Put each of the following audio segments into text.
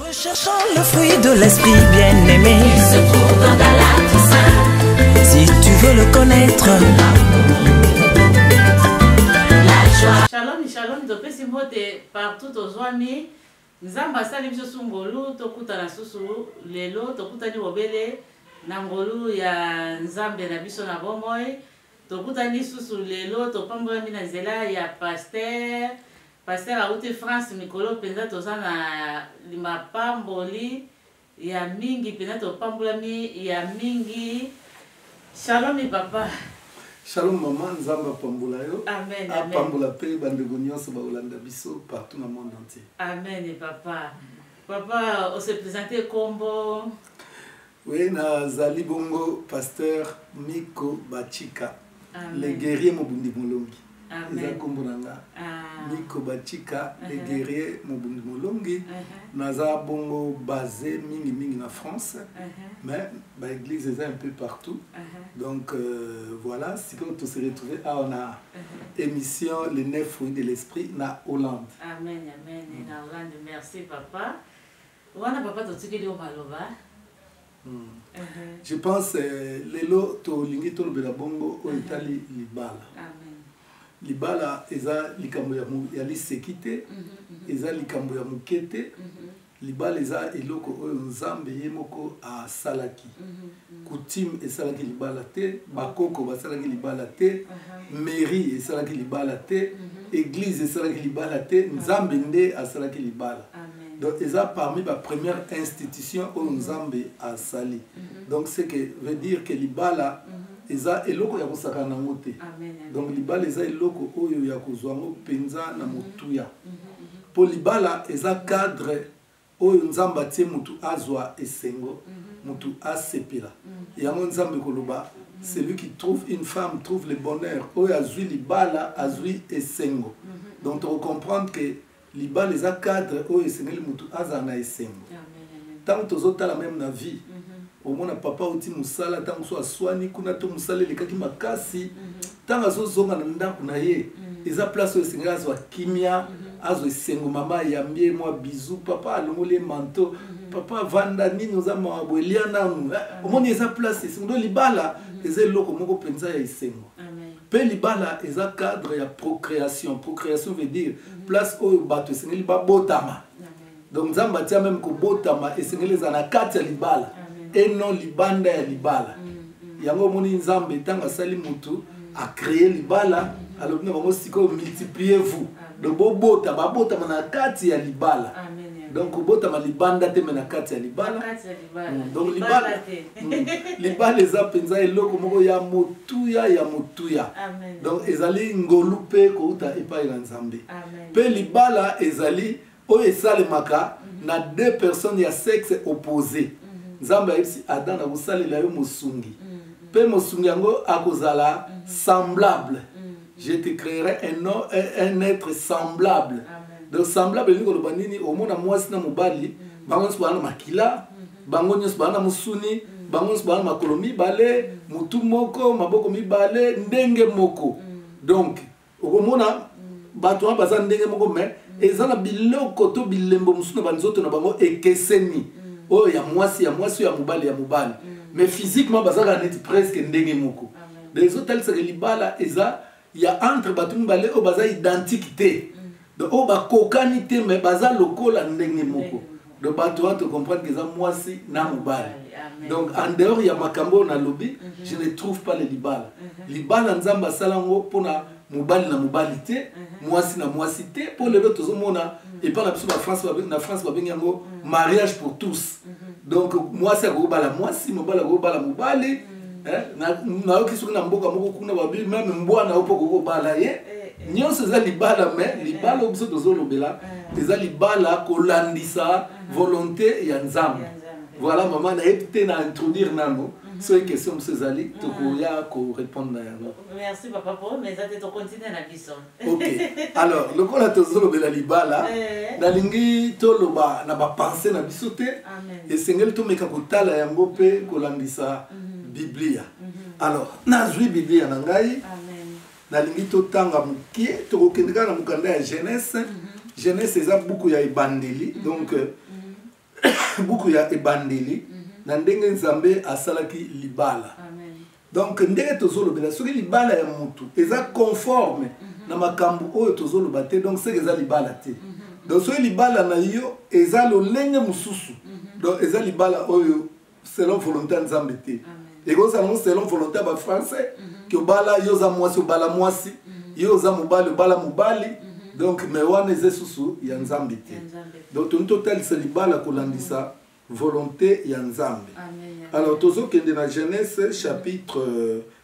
Recherchons le fruit de l'esprit bien-aimé. Il se trouve dans Galatiens. Si tu veux le connaître. La joie. Shalom, shalom, topesi mbote partout tozwami. Nzambe asali biso su ngolu tokutana susu lelo tokutani bobele na ngolu ya Nzambe na biso na bomoi. Tokutani susu lelo topambolami na nzela ya pasteur Pasteur awuti France mikolo penza toza na limapamboli ya mingi penza topambolami ya mingi shalomi papa. Shalom maman, Nzambe apambola yo. Amen. Apambola pe bandeko nyonso bakolanda biso partout na monde entier. Amen papa. Papa, on se présente kombo. Oui, nazali bongo pasteur Nico Bachika, Amen. le guerrier Mobundi Molongi. Amen. Eza kombo na nga. Ah. Nico Bachika, le Uh-huh. guerrier Mobundi Molongi. Uh-huh. Naza bongo basé mingi mingi na France, Uh-huh. mais ba église eza un peu partout. Uh-huh. Donc euh, voilà, si on se retrouver à on a émission les neuf fruits de l'esprit na Hollande. Amen, amen. Et na Hollande, merci papa. Wana papa totikeli yo maloba. Hmm. Je pense euh, lelo tolingi tolobela bongo oyo etali libala. Amen. libala eza likambo ya liseki te mhm, mhm. eza likambo ya moke te mhm. libala eza eloko oyo nzambe ye moko asalaki coutume esalaki libala te bakoko basalaki libala te mhm. mairie esalaki libala te mhm. église esalaki libala te mhm. nzambe nde asalaki libala donc eza parmi ba première institution oyo nzambe asali donc ce que veut dire que libala eza eloko ya kosakana nango te donc libala eza eloko oyo ya kozwa yango mpenza na motuya mpo libala eza cadre oyo nzambe atie mutu azwa esengo mutu asepela yango nzambe koloba celui qui trouve une femme trouve le bonheur oyo azwi libala azwi esengo donc tokocomprendre ke libala eza cadre oyo esengeli mutu azala na esengo ntango tozotala meme na vie omona papa oti mosala ntango so aswani kuna to mosala elekaki makasi ntango azozonga na ndako na ye mm. eza place oyo esengeli azwa kimia mm-hmm. azwa esengo mama ayambi ye mwa bizu papa alongoli ye manto mm-hmm. papa vanda nini oza mawa boye lia nanu eh, mm. omoni eza place esengo do libala mm-hmm. eza eloko moko mpenza ya esengo mpe libala eza cadre ya procréation procréation veut dire place oyo bato esengeli babotama donc nzambe atia meme kobotama esengeli eza na kati ya libala et non libanda ya libala mm, mm. yango omoni nzambe ntango asali motu mm. acree libala alobi na bango sikoyo multiplier vous donc bobota babotama na kati ya libala donc kobotama libanda te me na kati ya libala donc libala libala eza mpenza eloko moko ya motuya ya motuya donc ezali ngolu mpe kouta epai na nzambe mpe libala ezali oyo esalemaka na deux personnes ya sexe oppose nzambe ayebisi adam nakosalela yo mosungi mpe mosungi yango akozala semblable je te créerai un, un être semblable donc semblable elingi koloba nini omona mwasi na mobali bango nyonso baa na makila bango nyonso baa na mosuni bango nyonso baa na makolo mibale motu moko maboko mibale ndenge moko donc okomona bato wana baza ndenge moko me mm. eza na biloko to bilembo mosusu na banzoto na bango ekeseni mm. oyo ya mwasi ya mwasi oyo ya mobali ya mobali mm. mais physiquement bazalaka neti presque ndenge moko donc ezotalisaka libala eza ya entre bato mibale oyo baza identique te donc oyo bakokani te mais baza lokola ndenge moko donc bato wana tocomprendre ke eza mwasi na mobali donc en dehors ya makambo oyo nalobi mhm. je ne trouve pas le libala mhm. libala nzambe asala yango mpona mobali na mobali te mhm. mwasi na mwasi te mpo lelo tozomona epai na biso na france babengi yango mariage pour tous donc mwasi akoki kobala mwasi mobali akoki kobala mobali mm. eh, nayoki soki na mboka moko kuna babi meme mbwa na yo mpo okoki kobala ye eh, eh. nyonso eza libala me libala oyo biso tozolobela eza libala kolandisa mm-hmm. volonté ya nzambe voilà mama nayebi te na introduire nano mm-hmm. soki question mosusu ezali mm. tokoya korépondre na yango merci papa po mais eza te tocontinue na biso ok alors lokola tozolobela libala eh. nalingi toloba na bapense na biso te esengeli tomeka kotala yango mpe kolandisa mhm. biblia mhm. alors nazwi biblia na ngai nalingi totanga moke tokokende kaka na mokanda ya genese mhm. genese eza buku ya ebandeli donc euh, buku ya ebandeli mm -hmm. na ndenge nzambe asalaki libala Amen. donc ndenge tozolobela soki libala ya motu eza conforme mm -hmm. na makambo oyo tozoloba te donc seke eza libala te mm -hmm. donc soki libala na yo eza lolenge mosusu mm -hmm. donc eza libala oyo selon volonté ya nzambe te ekozala ngo selon volonté ya bafrançais mhm. ke obala yo oza mwasi obala mwasi mhm. yo oza mobali obala mobali mhm. donc me wana eza esusu ya nzambe te donc toni totalisa libala kolandisa volonté ya nzambe alors tozokende na genèse chapitre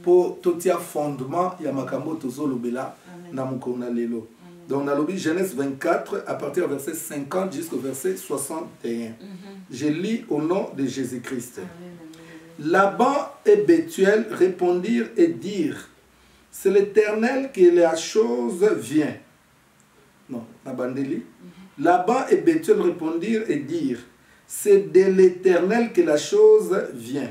mpo totia fondement ya makambo oyo tozolobela na mokolo na lelo donc nalobi genèse 24 à partir ya verset 50 jusqu'au verset 61 mhm. je lis au nom de jésus christ laban et bethuel répondirent et dirent c'est l'éternel qui la chose vient non na bandeli mhm. laban et bethuel répondirent et dirent c'est de l'éternel que la chose vient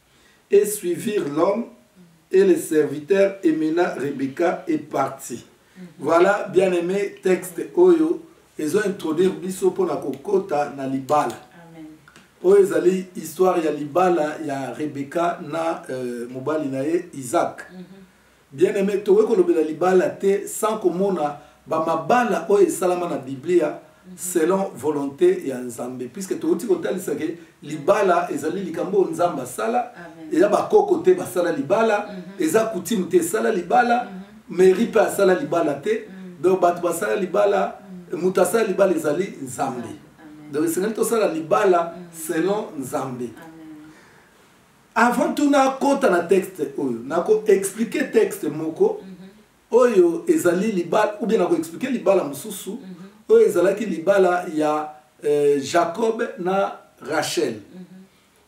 et suivir l'homme et le serviteur et maintenant Rebecca est partie. Mhm. Voilà, bien aimé, texte Oyo, ils ont introduit Bisso pour la Kokota na Libala. Oyo ezali histoire ya Libala ya Rebecca na euh, mobali na ye Isaac. Mhm. Bien aime, tokoki kolobela libala te sans komona ba mabala oyo esalama na Biblia selon volonte ya Nzambe puisque touti kotalisa ke libala ezali likambo oyo Nzambe asala eza bakoko te basala libala mhm. eza coutume te esala libala mhm. mairie mpe asala libala te mhm. donc bato basala libala moto asala libala ezali Nzambe donc esengeli tosala libala selon Nzambe Amen. avant tout nakota na texte oyo nako expliquer texte moko mm -hmm. oyo ezali libala ou bien nako expliquer libala mosusu mm -hmm. oyo ezalaki libala ya euh, jacob na rachel mm -hmm.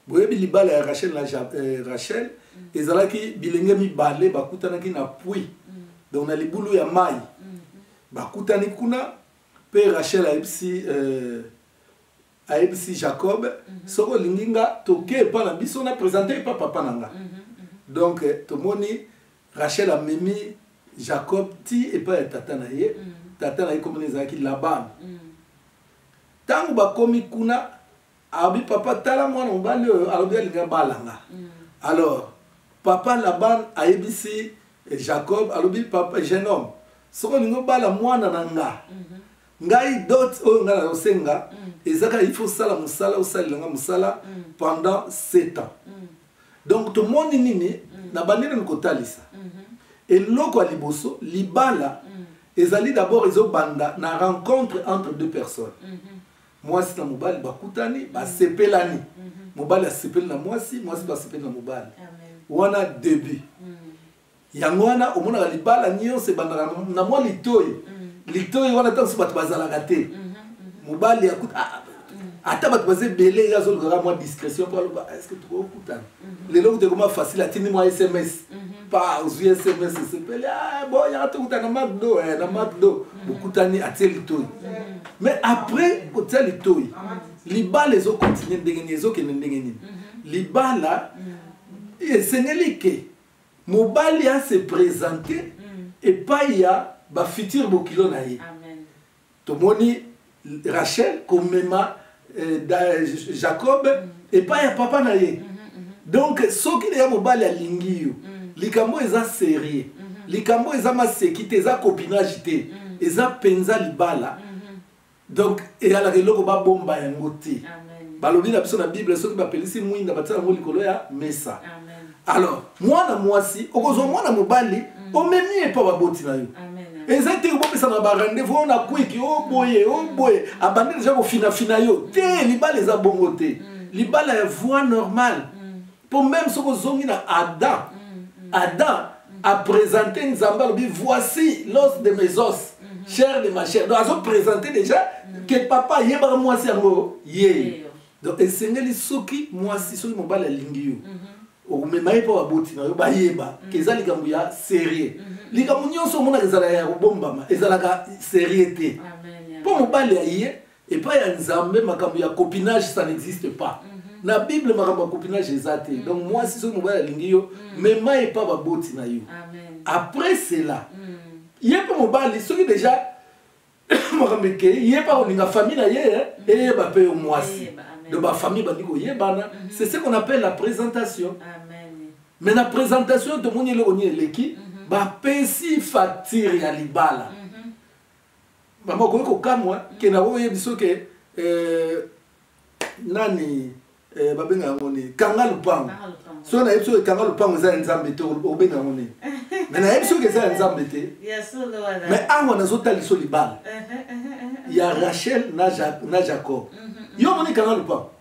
boyebi libala ya rachel na ja, euh, rachel mm -hmm. ezalaki bilenge mibale bakutanaki na pui mm -hmm. donc na libulu ya mai mm -hmm. bakutani kuna mpe rachel ayebisi euh, ayebisi jacob mm -hmm. soki olingi nga toke epa na biso na présente epa papa na nga mm -hmm. donc eh, tomoni rachel amemi jacob ti epai ya tata na ye mm -hmm. tata na ye komona ezalaki laban ntango mm -hmm. bakomi kuna abi papa tala mwana mobali oyo alobi alingi abala nga mm -hmm. alors papa laban ayebisi eh, jacob alobi papa jeune homme soki olingi obala mwana na nga mm -hmm. ngai dot oyo ngai nazosenga mm. eza kaka il faut osala mosala osalela ngai mosala mm. pendant 7 ans mm. donc tomoni nini mm. na bandi nani kotalisa mm -hmm. eloko ya liboso libala mm. ezali d'abord ezobanda na rencontre entre deux personnes mm -hmm. mwasi na mobali bakutani mm. basepelani mm -hmm. mobali asepeli na mwasi mwasi mm. basepeli na mobali wana début mm. yango wana omonaka libala nyonso ebandaka na mwa litoi mm. litoi wana ntango mosusu bato bazalaka te mm, mm, mobali akuta ah, ah, ata bato baza ebele ye azolukaka mwa discrétion mpo aloba ah, estce tokokutana mm-hmm. lelo kuta ekoma facile atindi mwa sms mm-hmm. pa ozwi sms esepeli bo yaka tokutana na macdo eh, na macdo mm-hmm. bokutani atie litoi mais après kotia litoi libala ezokontinue ndenge nini ezokende ndenge nini libala esengeli ke mobali a se presente mm. epai ya bafuture bokilo na ye tomoni rachel komema eh, jacob mm. epai ya papa na ye mm. donc soki deya mobali alingi yo mm. likambo eza serie mm-hmm. likambo eza maseki te eza copinage te mm. eza mpenza libala mm-hmm. donc eyalaka eloko babomba yango te balobi na biso na bible soki bapelisi mwinda batia yango likolo ya mesa alors mwana mwasi okozwa mm. mwana mobali mm. omemi ye mpo baboti na yo eza te obopesa na barendez-vous oyo na kwiki o boye o boye abandi deja kofinafina yo te libala eza bongo te mm. libala ya voie normale mpo meme soki ozongi na adam mm, mm. adam mm. apresente nzambe alobi voici l'os de mes os mm-hmm. chair de ma chair donc azopresente déjà ke papa ayebaka mwasi yango ye donc esengeli soki mwasi soki mobali alingi yo mm-hmm. okomema ye mpo baboti na yo bayeba ke eza likambo ya serie mm-hmm. likambo nyonso omonaka ezalaka ya kobombama ezalaka serie te mpo mobali aye epai ya nzambe makambo ya copinage ça n'existe pas mm -hmm. na bible makambo ya copinage eza te mm -hmm. donc mwasi soki mobali alingi yo mm -hmm. mema epa baboti na yo Amen. après cela mm -hmm. ye mpe mobali soki déjà makambo ekei ye mpe akolinga famille na ye eh, mm -hmm. eyeba mpe yo mwasi yeah, donc bafamille bandi koyebana mm -hmm. c'est ce qu'on appelle la présentation Amen. mais na présentation tomoni eloko nini eleki mm -hmm. bapesi facture ya libala mm -hmm. mama okoki kokamwa ke na oyo biso ke eh, nani eh, babenga yango nini kanga lupango soki nayebi soki kanga lupango eza ya nzambe te obenga yango nini me nayebi soki eza ya nzambe te me awa nazotaliso libala ya rachel na jacob yo omoni kanga lupango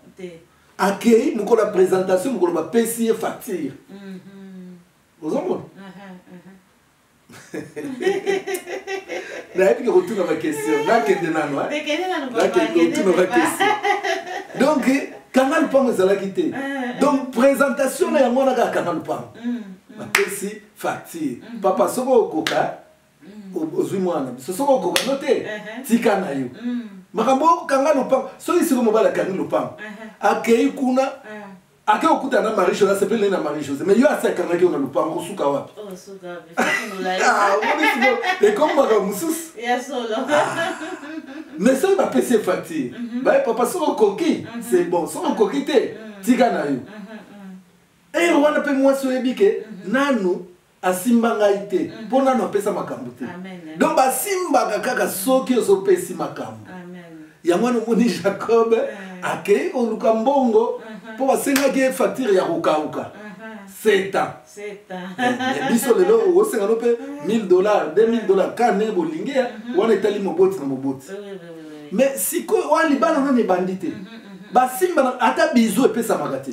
akei mokolo ya présentation mokolo bapesi ye facture ozomona nayebi ke kotuna bakestion nakende nano nakendekotuna bakestion donc kanga lupango ezalaki te eh, eh. donc présentation na yango wana kaka kanga lupango mm, mm. bapesi facture mm. papa soki okoka ozwi mwana biso soki okoka no te uh-huh. tika na yo makambo okanga lupango soki siko mobali akangi lupango uh-huh. akei kuna uh-huh. ake okuta na marie jose asepeli naye na marie jose mais yo asi akangaki yo na lopango kosuka wapi ekomi makambo mosusu mais soki bapesi ye facture mhm. baye papa soki okoki mhm. c'est bon soki okoki te mhm. tika na yo eye eh, wana mpe mwasi oyebi ke nanu asimba ngai te mm. mpo nano apesa makambo te donc basimbaka kaka soki ozopesi makambo yango wana omoni jacob akei koluka mbongo mpo basengaki ye facture ya kokauka seta eh, biso lelo osenga no mpe 1000 dollar 2000 dollar ka ndenge bolingi ya mhm. wana etali moboti na moboti mais sikoyo wana libala nano ebandi te mhm, mhm. basimba ata bizu epesamaka te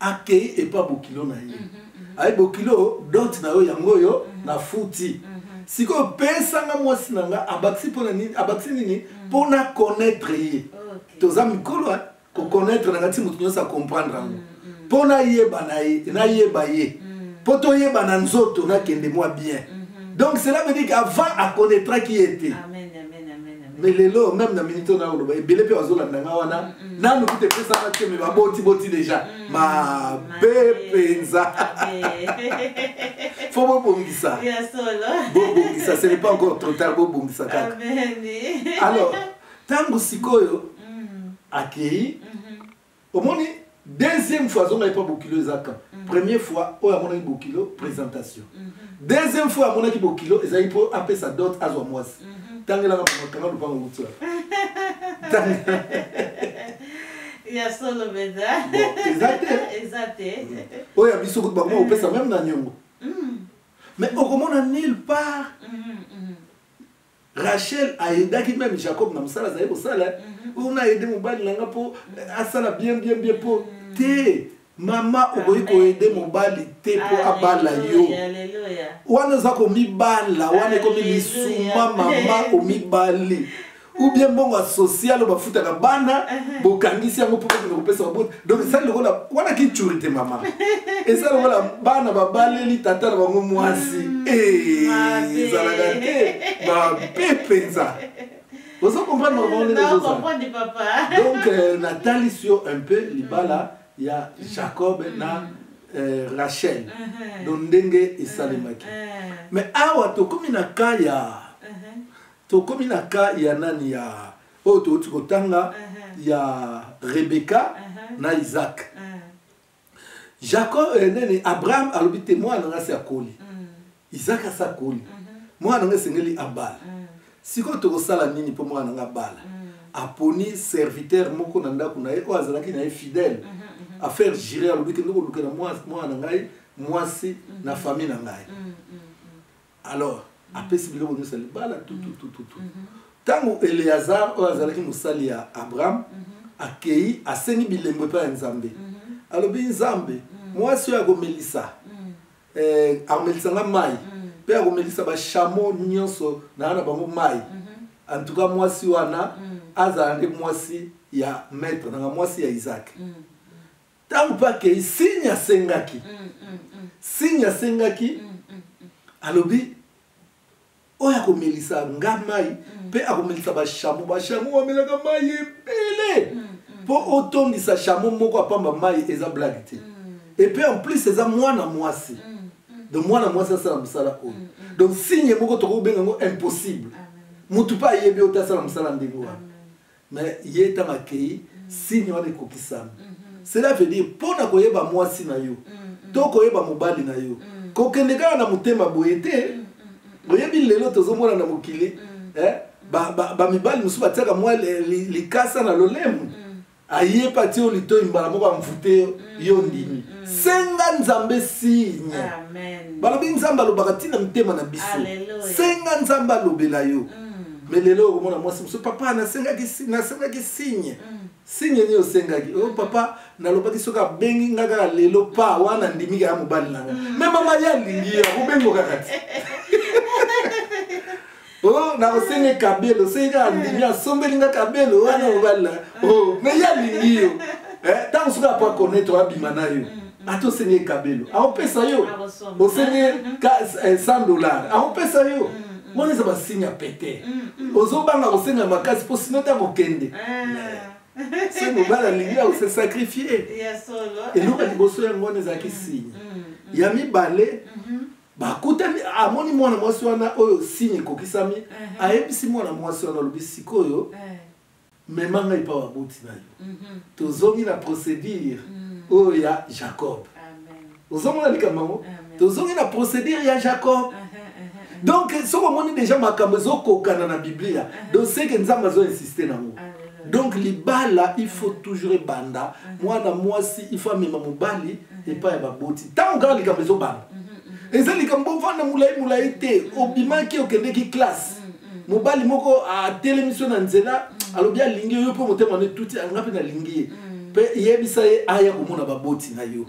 akei epa bokilo na ye aye bokilo dot na yo yango oyo na futi sikoyo pesanga mwasi na nga abakisi mpona nini abakisi nini mpo na connaître ye toza mikolo koconnaître na nga ti moto nyonso acomprendre yango mpo nayeba na ye nayeba ye mpo toyeba na nzoto nakende mwa bien donc cela veut dire qu'avant aconnaîtraki ye te mais lelo meme na minute oyo nakoloba ebele mpe bazolanda nga wana mm, mm. nanu kuta epesaka te me babotiboti deja mm, mabe mpenza fo bobongisa bobongisa ce n'est pas encore trop tard bobongisa kaka alors ntango sikoyo akei mm-hmm. omoni deuxième fois azonga epa bokilo eza kan mm. première fois oyo amonaki bokilo présentation mm-hmm. deuxième fois amonaki bokilo ezali mpo apesa dot azwa mwasi mm-hmm. tangelaka mamakanga lupango kutua ya solo mpenza eza te eza te oyo ya biso kutu bakoma kopesa meme na nyongo mais okomona nulle part Rachel a aidaki meme Jacob na mosala azali kosala eh. mhm. oyo na aide mobali na nga mpo eh, asala bien bien bien mpo mhm. te mama okoki koede mobali te mpo abala yo wana oza komibala wana ekomi lisuma mama omibali ou bien mbongo ya social oyo bafutaka bana bokangisi yango mpo kokende kopesa baboti donc esali lokola wana kicuri te mama esali lokola bana babaleli tata na bango mwasi mm, eh, ezalaka te mabe mpenza ozo comprendre donc euh, natalisi yo un peu libala mm. ya mm. jacob na euh, rachel uh-huh. donc ndenge esalemaki uh-huh. mais awa tokomi na ka ya uh-huh. tokomi na ka ya nani ya oyo touti kotanga uh -huh. ya rebeka uh -huh. na isaac uh -huh. jacob eh, nene abraham alobi te mwana na ngai se akoli uh mm. -huh. isaac asi akoli uh mm-hmm. -huh. mwana na ngai esengeli abala uh mm. -huh. sikoyo tokosala nini mpo mwana na ngai abala uh mm. -huh. aponi serviteur moko na ndako na ye oyo azalaki na ye fidèle uh mm-hmm, -huh. Mm-hmm. affaire jire alobi kende kolukela mwana na ngai mwasi uh -huh. na famille na ngai uh -huh. alors apesi biloko nyonso ya libala tututututu ntango eleazar oyo azalaki mosali ya abraham akei asengi bilembo epai ya nzambe alobi nzambe mwasi oyo akomelisa eh, akomelisa nga mai mpe akomelisa bashamo nyonso naa na bango mai antuka mwasi wana azala nde mwasi ya maître nanga mwasi ya isaac Tango pe akeyi signe asengaki. Signe asengaki alobi oyo akomelisa nga mai mpe akomelisa bashamo bashamo bamelaka mai ebele mpo otondisa shamo moko apamba mai eza blage te epe en plus eza mwana mwasi donc mwana mwasi asala mosala oyo mm, mm. donc signe moko tokoki kobenga yango impossible motu mpe ayebi oyo te asala mosala ndenge wana mais ye ntango akei signe wana ekokisami cela veut dire mpo na koyeba mwasi na yo to koyeba mobali na yo kokende kaka na motema boye te oyebi lelo tozomona na mokili eh, bamibali mosusu batiaka mwa likasa na lolemu ayepa ti yo litoi mbala moko amvute yo yo ndimi senga nzambe signe balobi nzambe alobaka ntina mitema na biso senga nzambe alobela yo mm. mais lelo okomona mwasi mosusu papa nasengaki nasengaki signe mm. signe nini osengaki o oh, papa nalobaki soki abengi nga kaka lelo pa wana ndimika ya mobali na nga me mm. mama ye alingi ye akobengo kaka ti o oh, nakosengi kabelo soki kaka ndimi asombeli nga kabelo wana mobali na o oh, me ye alingi yo ntango eh, soki apo akonetre abima na yo mm. ata osengi ye kabelo akopesa yo osengi ye 100 eh, dollars akopesa yo mm. wana eza basigne ya pete mm, mm. ozobanga kosenga makasi mpo sino te akokende ah. se mobali alingi akose sacrifie eloko ya liboso yango wana ezalaki mm, signe ya mibale mm-hmm. bakutani amoni mwana mwasi wana oyo signe ekokisami uh-huh. ayebisi mwana mwasi wana alobi sikoyo eh. mema ngai epai baboti na yo mhm. tozongi na procédure mhm. oyo ya jacob ozomona likambo yango tozongi na procédure ya jacob uh-huh, uh-huh. donc soki omoni déjà makambo ezokokana na biblia uh-huh. donc seke nzambe azo insiste nango donc libala il faut toujours ebanda mwana mwasi il faut amema mobali epai ya baboti ntango kaka likambo ezobanda eza likambo ovanda molai molai te obimaki okendeki classe mobali moko atelemi so na nzela alobi alingi yo mpe motema no etuti anga mpe nalingi ye mpe yebisa ye aya komona baboti na yo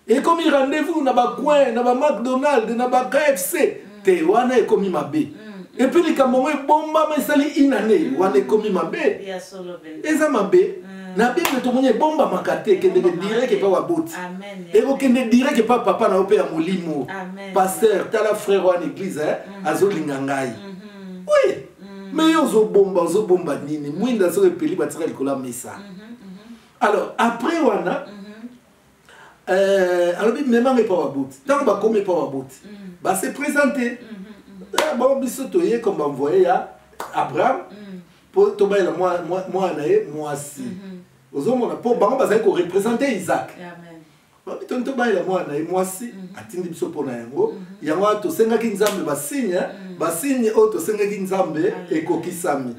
ekomi rendez-vous na bacoin na bamacdonald na bakfc te wana ekomi mabe mm. epuis likambo yango ebombama esali inane mm. wana ekomi mabe eza mabe mm. na bible tomoni ebombamaka te ekendeke direct epa baboti ekokende direct epa papa na yo mpe ya molimo paster tala frère wana église mhm. azolinga ngai mhm. oui mhm. mais yo ozobomba ozobomba nini mwinda soki epeli batika likolo ya mesa alors après wana euh, alobi memanga epa baboti ntango bakomi epa baboti base présente eh, bango biso toye comme banvoye ya abraham mpo tobalela mwana ye mwasi ozomona mpo bango bazali korepresente isaac Amen. babitoni tobalela mwana na ye mwasi mhm. atindi biso mpo na yango mhm. yango wana tosengaki nzambe basigne eh? mhm. basigne oyo tosengaki nzambe ah, ekokisami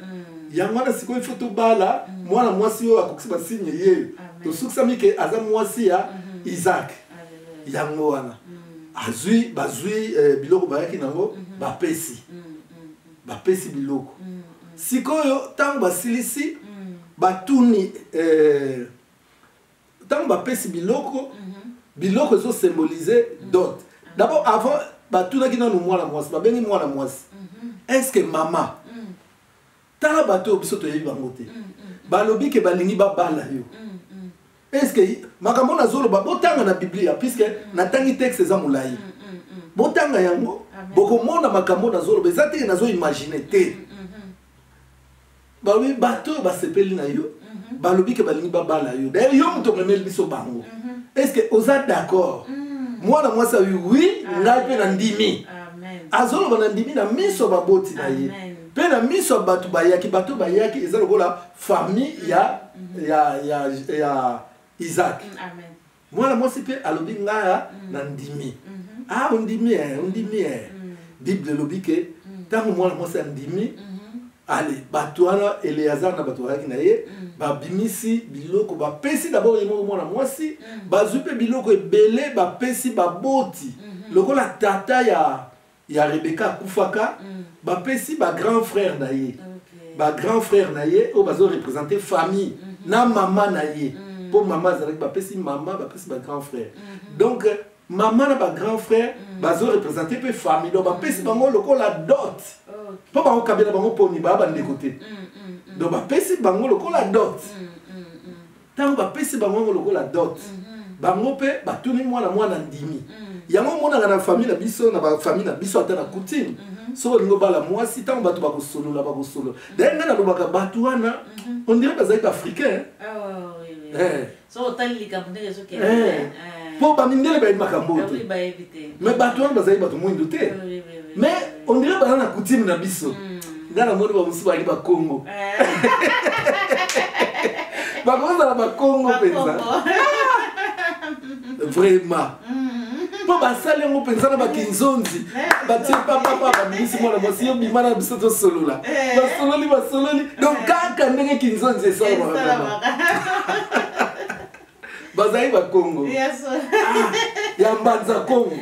yango wana sikoyo ifo tobala mwana mwasi oyo akokisi basigne ye tosukisami ke aza mwasi ya isaac yango wana azwi bazwi eh, biloko bayaki nango bapesi bapesi biloko sikoyo ntango basilisi batuni eh, ntango bapesi biloko biloko ezo symboliser dot d'abord avant batunaki nanu mwana mwasi babengi mwana mwasi est ce que mama tala bato oyo biso toyebi bango te balobi ke balingi babala yo est ce que makambo nazoloba botanga na biblia puisque natangi texte eza molai botanga yango bokomona makambo nazoloba eza te nazoimagine te balobi bato oyo basepeli na yo mhm. balobi ke balingi babala yo daye yo moto omemeli biso bango mhm. est ce que oza d'accord mhm. mwana mwasi awi wi ngai mpe na ndimi azoloba na ndimi na miso ya baboti na ye mpe na miso ya bato bayaki bato bayaki eza lokola famille ya, ya, ya, ya isaac mm, mwana mwasi mpe alobi ngaya mm. na ndimi mm-hmm. a ah, ondimi e ondimi e bible elobi ke ntango mwana mwasi andimi mm-hmm. ale bato wana eleazar na bato bazalaki na ye babimisi biloko bapesi dabord ye moko mwana mwasi bazwi mpe biloko ebele bapesi baboti lokola tata ya ya rebeka akufaka mm. bapesi bagrand frère na ye okay. bagrand frère na ye oyo bazo représente famille mm -hmm. na mama na ye mpo mm. mama azalaki bapesi mama bapesi bagrand frère mm -hmm. donc mama na bagrand frère mm. bazo représente mpe famille donc bapesi mm. bango lokola dot mpo okay. bango kabela bango poni baa bandeko te mm, mm, mm. donc bapesi bango lokola dot mm. ntango bapesi bango yango lokola dot mhm. bango mpe batuni mwana mwana ndimi mhm. yango omonaka na famille na biso na bafamille na biso ata na coutume mhm. soki olingi obala mwasi ntango bato bakosolola bakosolola daye ngai nalobaka bato wana ondire bazali baafricain mpo eh. eh. eh. bamindele bayebi makambo oyo te me bato wana bazali bato mwindu te mais on dirait baza na coutume na biso hmm. nga namoni bamosusu bali bakongo eh. bakozala bakongo mpenza vraiment mpo hmm. basali yango mpenza na bakinzonzi eh, batie papapa babimisi mwana mwasi yo bima na biso tosolola eh. basololi basololi donc kaka ndenge kinzonzi esalaka bazali bakongo ya mbanza kongo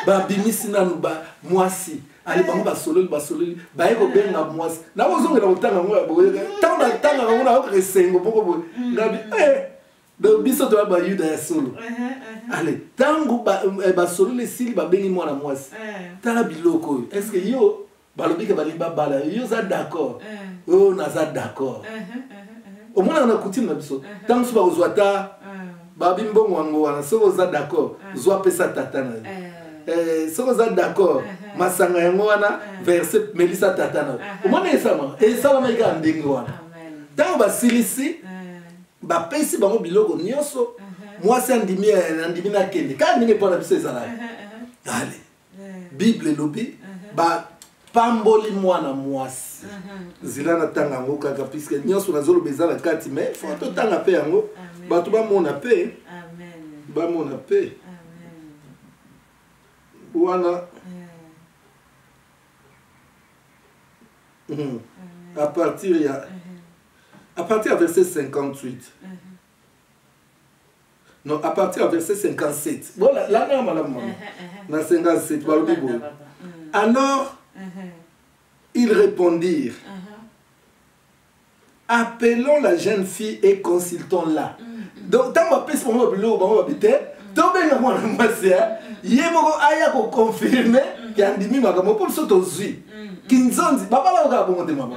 babimisi nanu ba mwasi ali bango basololi basololi baye kobenga mwasi nakozongela kotanga yango ya boye ntango natanga yango nayokaka esengo moko boye mm. ngabi eh, donc biso toya bayuda ya solo uh-huh, uh-huh. ale ntango basololi eh, esili babengi mwana mwasi eh. tala biloko oyo estce yo balobi ke balingi babala yo oza d'accord eh. oyo naza d'accord eh, eh, omonaka na coutume na biso ntango mosusu bakozwa ata babi mbongo yango wana soki oza d'accord zwa pesa tata na yo soki oza d'accord masanga yango wana verse melisa tata na yo omona esalama esalama ekaka ndenge wana ntango basilisi bapesi bango biloko nyonso mwasi andimi andimi nakende kaka ndenge mpo na biso ezalaka ale bible elobi bapamboli mwana mwasi nzela natanga yango kaka puiske nyonso nazoloba eza na kati mai fo totanga mpe yango bato bamona mpe bamona mpe wana mhm. à partir ya à partir ya verset 58 non à partir ya verset 57 bola langa ya malamu mama na 57 balobi boye alors ils répondirent appelons la jeune fille et consultons la donc ntango apesi bango babiloko bango babi te tobenga mwana mwasi ye moko aya koconfirme ke andimi makambo mpo biso tozwi kinzonzi babalaka kaka bongo te mama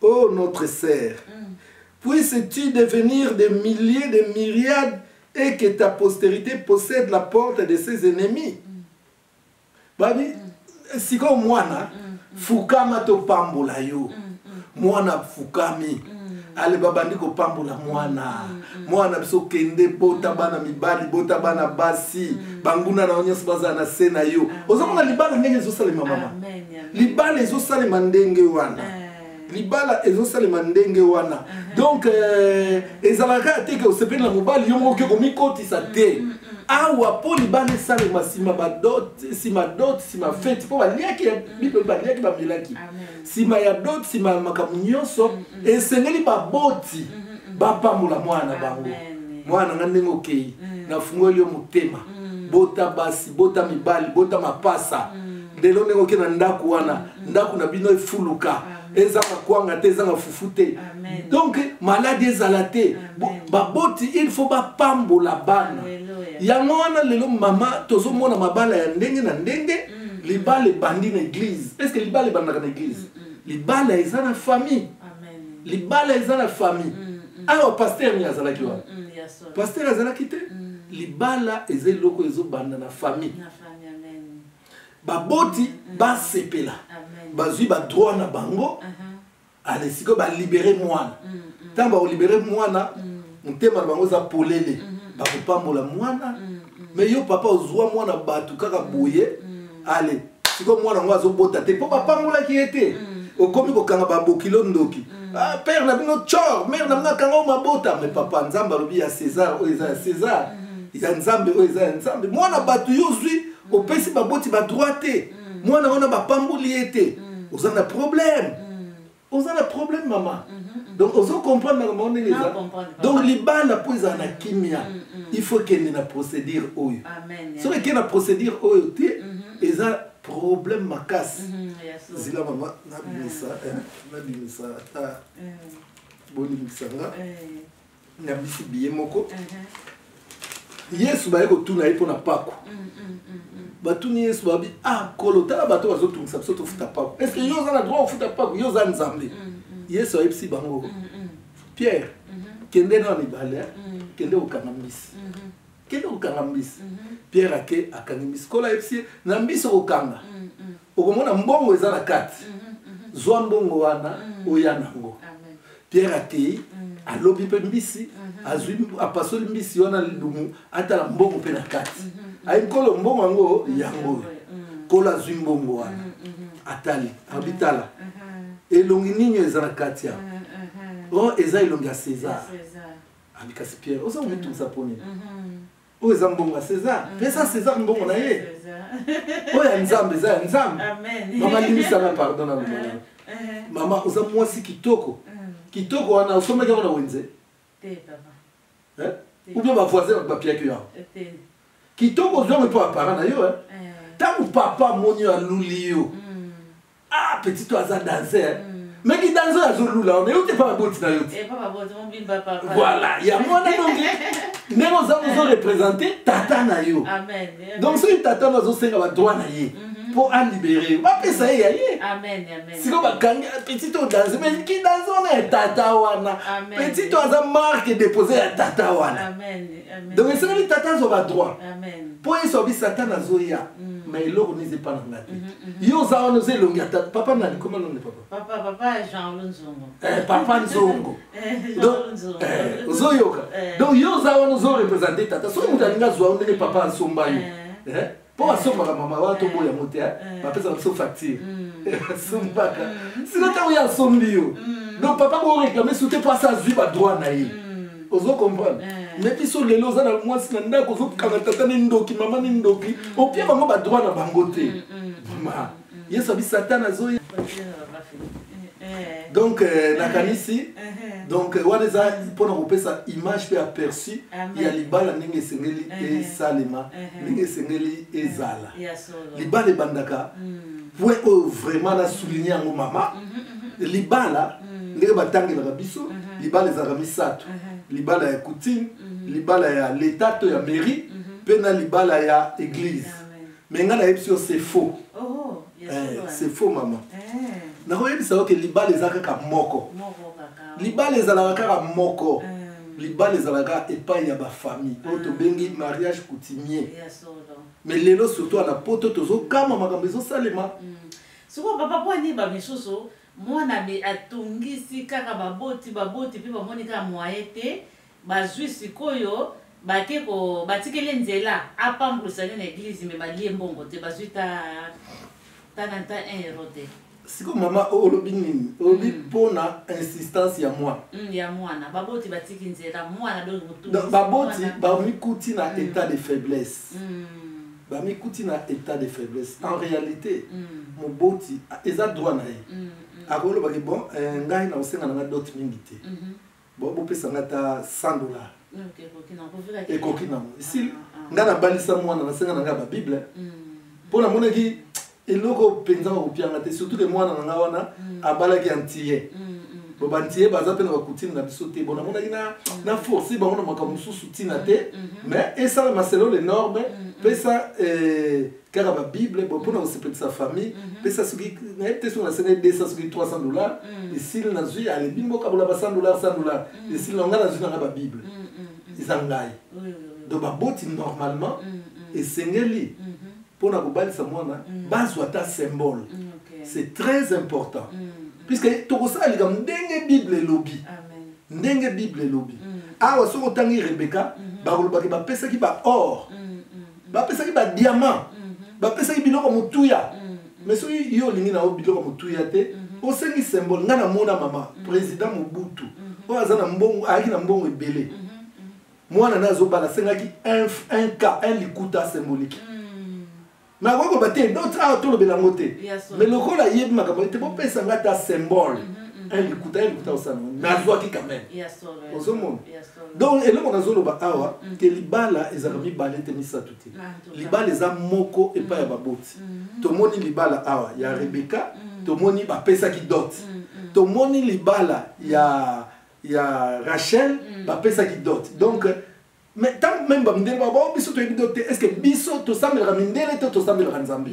Oh notre sœur, mm. puisses-tu devenir des milliers, des myriades et que ta postérité possède la porte de ses ennemis. Mm. Babi, mm. siko mwana, mm. mm. fukama to pambola yo. Mm. mm. Mwana fukami. Mm. Ale babandi ko pambola mwana. Mm. mwana na biso kende bota bana mibali bota bana basi mm. banguna na yo nyonso bazala na se na yo ozomona libala ndenge ezosalema mama libala ezosalema ndenge wana eh. libala ezosalema ndenge wana uh-huh. donc eh, ezalaka ya teke osepeli na mobali yo mokoki komikotisa te mm, mm, mm. awa mpo libala esalema nsima badote nsima dote nsima feti mpo baliaki ya bible baliaki bamelaki nsima ya dot nsima ya makambo nyonso mm, mm. esengeli baboti mm, bapambola mwana na bango mwana nga ndenge okei nafungoli yo motema bota basi bota mibali bota mapasa lelo ndenge okei na ndako wana ndako na bino efuluka ezanga kwanga te ezanga fufu te donc maladi ezala te baboti il faut bapambola bana yango wana lelo mama tozomona mabala ya ndenge na ndenge libala ebandi na eglise puisque libala ebandaka na eglise mm, mm. libala eza na famille libala eza na famille mm, awa paster ni azalaki wana paster azalaki te libala eza eloko ezobanda na famille baboti basepela bazwi badroit na bango uh-huh. ale sikoyo balibere mwana ntango bakolibere mwana motema na bango eza polele bakopambola mwana me yo papa ozwa mwana bato kaka boye ale sikoyo mwana yango azobota te mpo bapambolaki ye te okomi kokanga babokilo ndoki ah, père na bino cor mare na bino akanga o mabota me papa nzambe alobi ya césar oyo eza ya césar ya nzambe oyo eza ya nzambe mwana bato yo ozwi opesi baboti badroit te mm. mwana wana bapamboli ye te mm. oza na problème mm. oza na problème mama mm -hmm. donc ozo comprendre makambo yango ndenge eza donc libanda mpo ezala na kimia mm, mm. il faut kende na procédure oyo soki ekende na procédure oyo te mm-hmm. eza problème makasi mm-hmm, zila mama nabimisa eh, nabimisa ata bolimbisa nga na bisi biye moko uh-huh. yesu baye kotuna ye mpo na pako mm, mm, mm, batuni yesu babi ah kolo tala bato bazotungisa biso tofuta pako estce yo oza na droit ofuta pako yo oza nzambe yesu ayebisi bango pierre mm-hmm. kende na mibale eh? kende kokanga mbisi mm-hmm. kende kokanga mbisi mm-hmm. pierre ake akangi mbisi kolo ayebisi ye na mbisi okokanga okomona mbongo eza na kati zwa mbongo wana oya nango pierre akei alobi mpe mbisi azwi apasoli mbisi wana lidumu atala mbongo mpe na kati ayi nkolo mbongo yango yango oyo nkolo azwi mbongo wana atali abi tala elongi nini eza na kati ya o oh, eza elongi ya césar abi kasi pierre oza komitungisa mpo nini oyo eza mbongo ya césar mm. pesa césar mbongo na ye oyo ya nzambe eza ya nzambe mama limisana pardon na lomona eh, eh. mama oza mwasi kitoko mm. kitoko wana osomaki yango na wenze eh? ubien bavoisin bato bapiaki yo kitoko ozwango mpo apara na yo ntango papa amoni yo aluli yo mm. ah petit oyo aza danser meki danser azolula wana yo te pa baboti na yo te voilà yango wana donge ndenge oza ozo représente tata na yo donc soki tata wana azosenga badroit na ye mpo alibere yo bapesa ye ya ye sikoyo bakangi petit oyo danse mais ki danse wana ya tata wana petit oyo aza marque dépose ya tata wana donc esengeli tata azwa badroit mpo yesu abi satana azoya mm. ma eloko nini eza epa na nga te mhm, mhm. yo oza wana oza elongi ya tata papa nani koma londe papa papa eh, nzongo eh, ozoyoka eh. donc yo oza wana ozorepresente tata soki moto alingi azwa yo ndenge papa asomba yo mpo basombaka mama wana toboyi yango te bapesaka biso facture asombaka sino ntango ye asombi yo donc papa boreklame su te mpo asi azwi badroit na ye ozo comprendre me biso lelo oza na mwasi na ndako ozokanga tata ni ndoki mama ni ndoki opia bango badroit na bango te mama yesu abi satana azoya eh. donc euh, nakanisi eh, eh. donc wana eza mpona kopesa image mpe aperçu ya libala ndenge esengeli esalema ndenge esengeli ezala libala ebandaka mm. point oyo vraiment na souligne yango mama mhm, mhm, mhm. libala ndenge batangelaka biso libala ezalaka misato libala ya coutine libala ya leta to ya mairie mpe na libala ya eglise mais ngai nayebisi yo c'est faux oh, eh, c'est faux mama eh. nakoyebisa yo ke libala eza kaka moko libala ezalaka kaka moko eh. libala ezalaka epai ya bafamille oyo ah. tobengi mariage coutumier mais lelo surtout ana poto tozokama makambo ezosalema mm. sikoyo papa mpo ani bamisusu mwana atungisi kaka baboti baboti mpe bamoni kaka mwaye te Bazui sikoyo bake ko batikeli ye nzela apambolisa nde na eglise me balie mbongo te bazui ta ta na ta 1 euro te siko mama olobi nini olobi mm. mpo na insistance ya mwana mm, ya mwana baboti batiki nzela mwana donc baboti bamikuti na mm. état de faiblesse mm. bamikuti na état de faiblesse en réalité mm. moboti eza droit na ye mm. mm. akolobaki bon eh, ngai na kosenga na ngai dote mingi te mm -hmm. Bon, vous pouvez s'engager à 100 dollars. ekoki nango esili ah, ah. ngai nabalisa mwana nasenga na ngai ya babible mm. mpo namonaki eloko mpenza bakopianga te surtout ke mwana na ngai wana mm. abalaki antiye mm, mm, bo bantiye baza mpe na bakutine na biso te bo namonaki na force bango na makambo mosusu ntina te mais esala maselo le norme mpe sa eh, kaka ba bible bon mpona kosepelisa famille mhm. pesa soki nayebi te soki nasengai 200 soki 300 dollar mhm. esili nazwi alebi mboka bola ba 100 dollar 100 dollar mhm. esili na ngai nazwi na ngai ba bible eza ngai donc baboti normalement esengeli mpona kobalisa mwana bazwa ata symbole c'est très important puisque tokosala likambo ndenge bible elobi ndenge bible elobi awa soki otangi rebeka bakolobaki bapesaki ba or bapesaki ba diamant mhm. bapesaki biloko motuya mhm. mais soki yo olingi na yo biloko motuya te mhm. osengi symbole ngai namona mama président mobutu oyo aza na mbongo ayaki na mbongo ebele mwana na azobala asengaki un cas un likuta symbolique mais akoki koba te dotre awa tolobela yango te mais lokola ayebi makambo te bopesa ngai ata symbole un likuta un likuta osana nazwaki quand même ozomona donc eloko nazoloba awa mm. ke libala ezalaka mm. mibale te misato te ah, libala eza moko epai ya mm. baboti tomoni libala awa ya rebeka tomoni bapesaki dot tomoni libala ya ya rachel bapesaki dot donc mais ntango meme bamindele bao bao biso toyebi dot te est ce que biso tosambelaka mindele to tosambelaka nzambe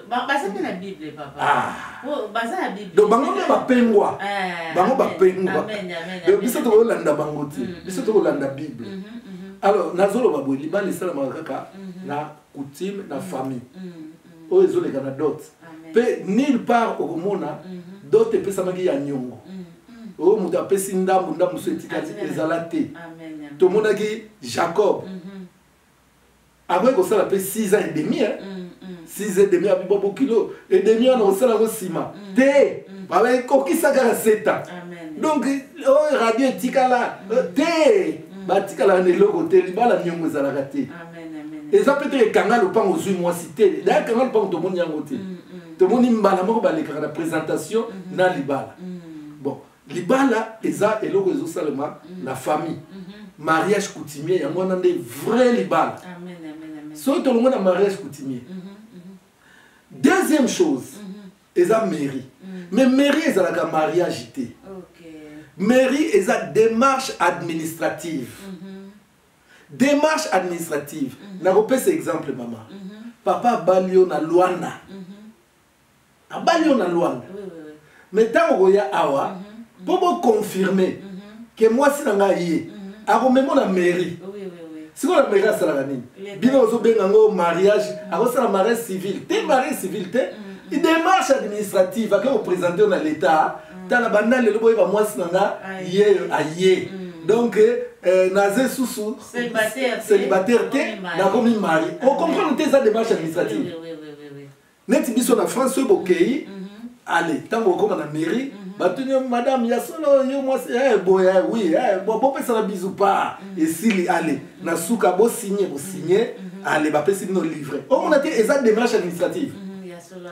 basambela bible papa ah. Oh, donc bango nde bapengwa eh, bango bapengwa donc biso tokolanda bango te mm-hmm. biso tokolanda bible mm-hmm, mm-hmm. alors nazoloba boye libala esalamaka kaka na coutume na famille oyo ezoleka na dot mpe nulle part okomona dot epesamaki ya nyongo oyo moto apesi ndambo ndambo so etikali ezala te tomonaki jacob akoki kosala mpe 6 ans et demi 6 mm, mm. et demi abibo bokilo et demi wana kosala yango nsima mm. te babekokisa kaka 7 ans donc oyo radio etikala euh, te batikalaka na eloko te libala miongo ezalaka te eza mpe te ekanga lopango ozwi mwasi te daya ekanga lopango tomoni yango te tomoni mbala moko balekaka na présentation na libala bon libala eza eloko ezosalema mm. na famille mm-hmm. mariage coutumier yango wana nde vrai libala soki tolongo na mariage coutumier mm-hmm, mm-hmm. deuxième chose eza mairie mm. mais mairie ezalaka mariage te mairie eza démarche administrative démarche administrative nakopesa exemple mama papa abali yo na luanda abali yo na luanda mais ntango koya awa mpo boconfirme ke mwasi na ngai ye akomemo na mairie sikoyo na mairie asalaka nini bino ozobenga yango mariage akosala mariage civil te mariage civil te démarche administrative ake kopresente yo na l'état tala banda lelo boyeba mwasi na nga ye aye donc euh, naza susu célibataire te nakomi mari okomprendre te eza démarche administrative neti biso na france soki bokei ale ntango okoma na mairie mhm. batuni yo madame ya solo yo mwasi eh, boye eh, wi eh, bopesana bizu pa mhm. esili ale mhm. na suka bosigne bosigne ale bapesi bino livre omona te eza démarche administrative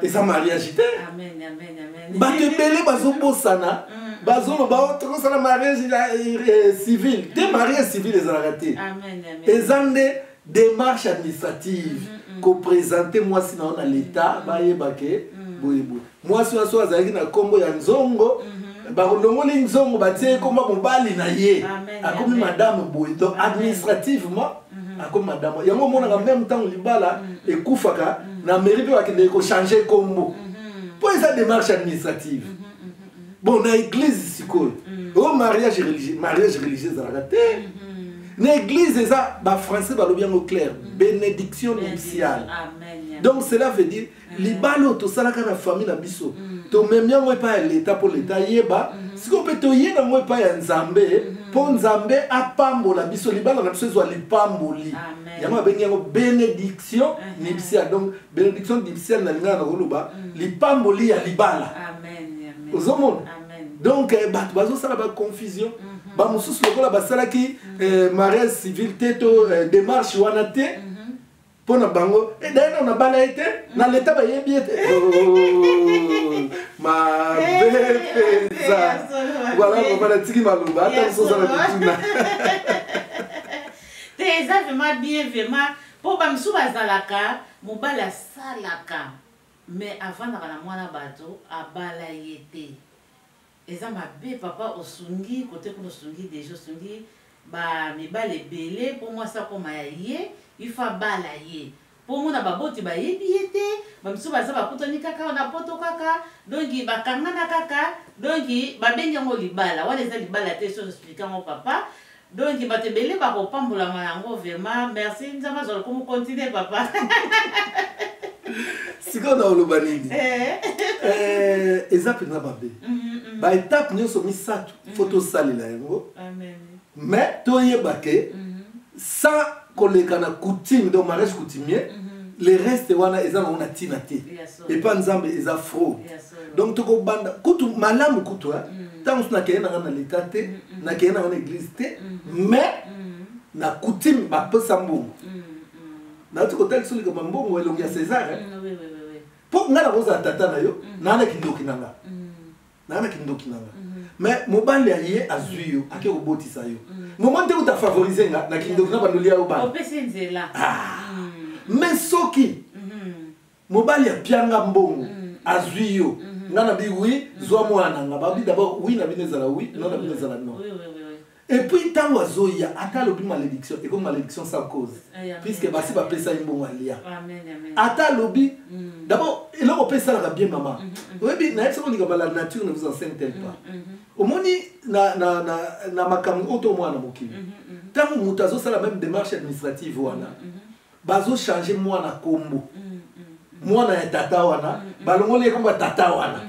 eza mariage te bato ebele bazobosana bazoloba o oh, tokosala mariage civil te mariage civil ezalaka te eza nde démarche administrative mm-hmm. kopresente mwasi na yo na leta mm-hmm. bayeba ke mm-hmm. boyeboye mwasi wana soki azalaki na nkombo ya nzongo balongoli nzongo batie ekoma mobali na ye akomi madame boye donc administrativement akomi madame yango omonaka meme ntango libala ekufaka na mairie mpe bakendeke kochange nkombo mpo eza démarche administrative bon na église sikoyo mm. o oh, mariage religieux mariage religieux ezalaka te mm-hmm. na église eza bafrançais balobi yango claire mm. bénédiction nuptiale donc cela veut dire mm. libala oyo tosalaka na famille na biso tomemi yango epai ya leta mpo leta ayeba mm-hmm. sikoyo mpe toye nango epai ya nzambe mm-hmm. mpo nzambe apambola biso libala na biso ezwa lipamboli yango abengi yango bénédiction nuptiale donc benediction dipsiel na lingala nakoloba mm. lipamboli ya libala ozomona donc eh, bato bazosala baconfusion mhm. bamosusu lokola basalaki mhm. eh, mariage civil te to eh, démarche wana te mhm. mpo na bango edaye nao nabala ye te na leta bayebi ye te oh, mabe mpenza wana loba natiki maloba ata mosusu ozala kotuna te eza vraimen bien vraimen Po ba misusu bazalaka mobali asalaka mais avandaka na muana batu abala ye te eza mabe papa osungi cote kuna osungi deja osungi ba mibali ebele po muasi akoma ya ye il faut abala ye po omona ba boti bayebi ye te ba misusu baza bakutani kaka awa na poto kaka donc bakangana kaka donc babengi yango libala wana eza libala te esi ozo explique yango papa Donc bato ebele bakopambolama na yango vraiment merci nzambe azwa lokumu continue papa sikoyo na oloba nini eh. Eh, eza mpenza mabe mm, mm, mm. baetape nyonso misato fo tosalela yango mais toyeba ke mm-hmm. sans koleka na coutume donc mariage coutumier mm-hmm. le reste wana eza nango na ntina te epa nzambe eza fraude donc tokobanda kutu malamu kutu ntango mosusu nakende nanga na leta te nakende nanga na église te mais na coutume bapesa mbongo nauti kotalisa likambo ya mbongo elongi ya césar mpo ngai nakozala tata na yo naa na kindoki na nga naa na kindoki na nga mais mobali ya ye azwi yo ake kobotisa yo moma nde kuta favorise nga na kindoki na bandoli ya yo bana mais soki mobali apianga mbongo mm. azwi yo mm-hmm. nga na bi wi mm. zwa mwana na nga babi dabord wi na bino ezala wi no na bino ezala no epuis ntango azoya ata alobi malédiction ekomi malédiction sans cause eh, puisque basi bapesa ye mbongo alia ata alobi mm. dabord eloko mpe esalaka bien mama mm-hmm, mm-hmm. oyebi nayebi soko likambo la nature ne vous enseigne tel pas omoni na makambo oyo to mwana mokili ntango moto azosala meme démarche administrative wana bazo changer mwana kombo mwana ya tata wana balongoli ekombo ya tata wana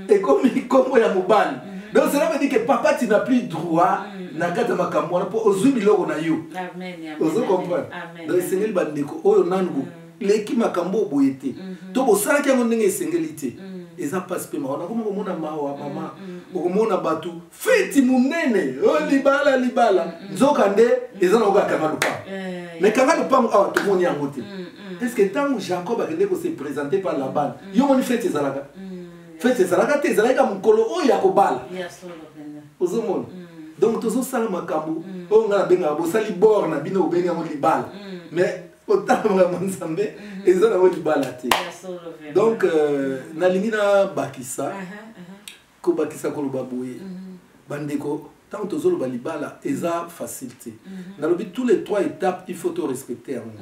ekomi kombo ya mobali donc cela veut dire que papa tu n'as plus droit na kati ya makambo wana mpo ozwi biloko na yo ozo comprendre donc esengeli bandeko oyo nanu leki makambo oyo boye te mhm. to bosalaki yango ndenge esengeli te mhm. eza mpasi mpe mawa nakoma komona mawa mama mhm. okomona bato feti monene oh, libala libala mm. nzoka nde eza na okoka kanga lupango eh. me kanga lupango awa tomoni yango te mm, mm. parceke ntango jacob akende kose présente par labana yo moni feti ezalaka feti ezalaka te ezalaki ka mokolo oyo ya kobala ozomona donc tozosala makambo oyo ngai nabengaka bosali bor na bino obengi yango libala mais otanga makambo nzambe mhm. eza nango libala te donc euh, nalingi nabakisa uh-huh. kobakisa koloba boye mhm. bandeko ntango tozoloba libala eza mhm. facile te mhm. nalobi tous les trois étapes il faut torespecte yango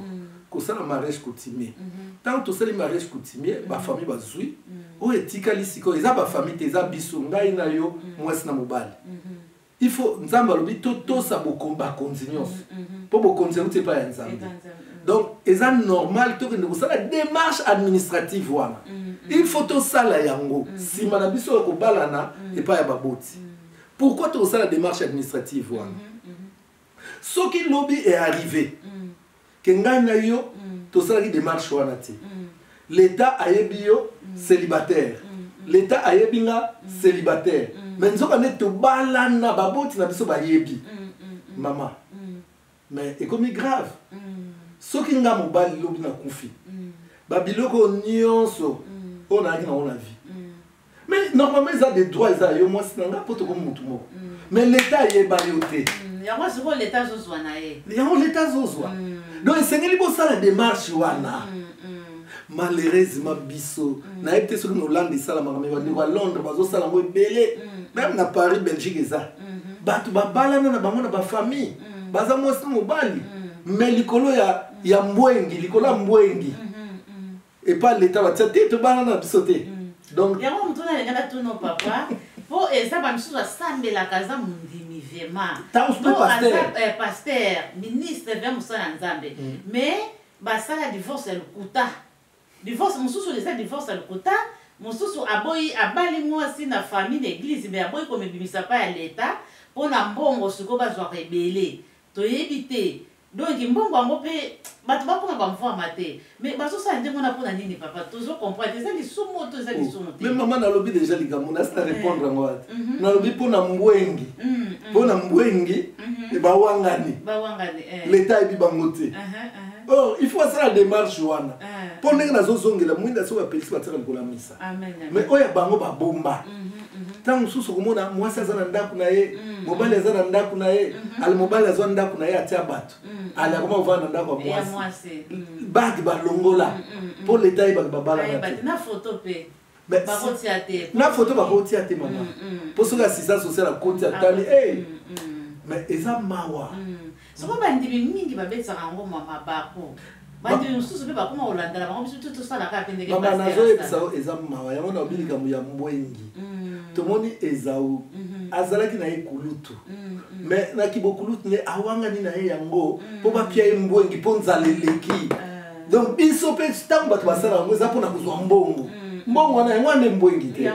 kosala mariage coutumier ntango tosali mariage coutumier bafamille bazwi oyo etikali sikoyo eza bafamille te eza biso ngai na yo mwasi na mobali il faut nzambe alobi totosa mm-hmm. bakonzi nyonso mpo mm-hmm, mm-hmm. bokonzi euti epai ya nzambe donc eza normal tokende kosala démarche administrative wana il faut tosala yango nsima na biso ya kobalana epai ya baboti pourquoi tokosala démarche administrative wana soki lobi e arrive mm. ke ngai na yo mm. tosalaki demarche wana te mm. l'etat ayebi yo mm. célibataire mm. mm. l'etat ayebi nga mm. célibataire mm. mais nzoka nde tobalana baboti na biso bayebi mm. mm. mm. mama mm. mais ekomi grave mm. soki nga mobali lobi na kufi mm. babiloko nyonso mm. oyo nayaki nango na vie mais normalement eza de droit eza yo mwasi na nga mpo tokomi motu moko mm. mais leta ayeba yo te mm, yango sikoyo leta azozwa na ye yango leta azozwa mm. donc esengeli bosala démarche wana malheureusement biso nayebi te soki na hollande esalamaka me bandeko ya londres bazosala yango ebele meme na paris belgique eza mm-hmm. bato babalana na bango na bafamille baza mwasi na mobali me likolo ya mbwengi likolo ya mbwengi mm-hmm. epa leta batia te tobana na biso te mm. donc yango motu nalinga natuno papa mpo eza bamisusu asambelaka aza mondimi vraimen eh, paster ministre vra mosala ya nzambe mm. mais basala divorce ya lokuta divorce mosusu eza divorce ya lokuta mosusu aboyi abali mwasi na famille na eglize me aboyi komibimisa mpa ya leta mpo na mbongo sikoyo bazwaka ebele toyebi te Donc mbongo yango pe bato bakoma bamvwama te mais bazosala ndenge wana mpo na nini papa tozo comprendre eza lisumu to eza oh, lisumu te mais mama nalobi deja likambo nasi na eh. répondre yango ata mhm. nalobi mpo na mbwengi mm, mm. mpo na mbwengi mhm. bawangani eh. leta ayebi bango te uh-huh, uh-huh. or oh, il faut asala démarche wana eh. mpo ndenge nazozongela mwinda soki apelisi batika likolo ya misa mais oyo ya bango babomba ntango mhm, mhm. mosusu okomona mwasi aza na ndako na ye mhm. mobali aza na ndako na ye ale mobali azwa ndako na ye atya bato ale akoma kovanda na ndako ya mwasi bage balongola mpo leta ye bato babalana te na foto bakotia te mama mpo soki asisa social akoti atali mais eza mawa Soko bandimi mingi babetisaka yango mabaku bandimi mosusu mpe bakoma kolanda na bango biso tu tosalaka mpe ndenge mama nazoyebisa yo eza mawa yango na obi likambo ya mbwengi mm. tomoni ezau mm-hmm. azalaki na ye kulutu mm-hmm. me na kibokulutu nde awangani na ye yango mpo mm. bapia ye mbwengi mpo nzala eleki eh. donc biso mpe ntango bato basala yango eza mpo na kozwa mbongo mm. mbongo wana yango wana nde mbwengi te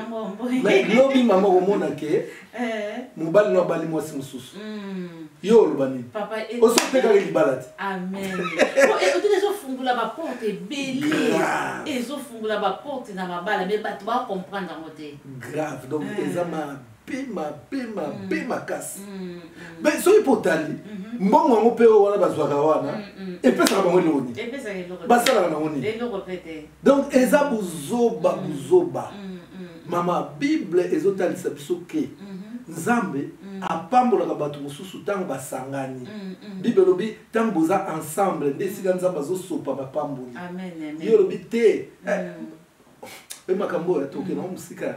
lobi mama okomona ke Eh. mobali no abali mwasi mosusu hmm. yo oloba nini eh, osi otekaka eh, libala te ameotika oh, ezofungola baporte ebele ezofungola baporte na mabala me bato bacomprendre yango te grave donc hmm. eza mabe mabe mabe hmm. makasi me soki mpo otali mhm. mbongo yango mpe oyo wana bazwaka wana epesaka bango eloko nini basalaka nango nini donc eza buzoba buzoba Mama, Bible ezotalisa biso ke Nzambe apambolaka bato mosusu ntango basangani. Bible elobi ntango boza ensemble nde esika Nzambe azosopa mapamboli. Yo olobi te eh, mpe makambo oyo atoke nango mosika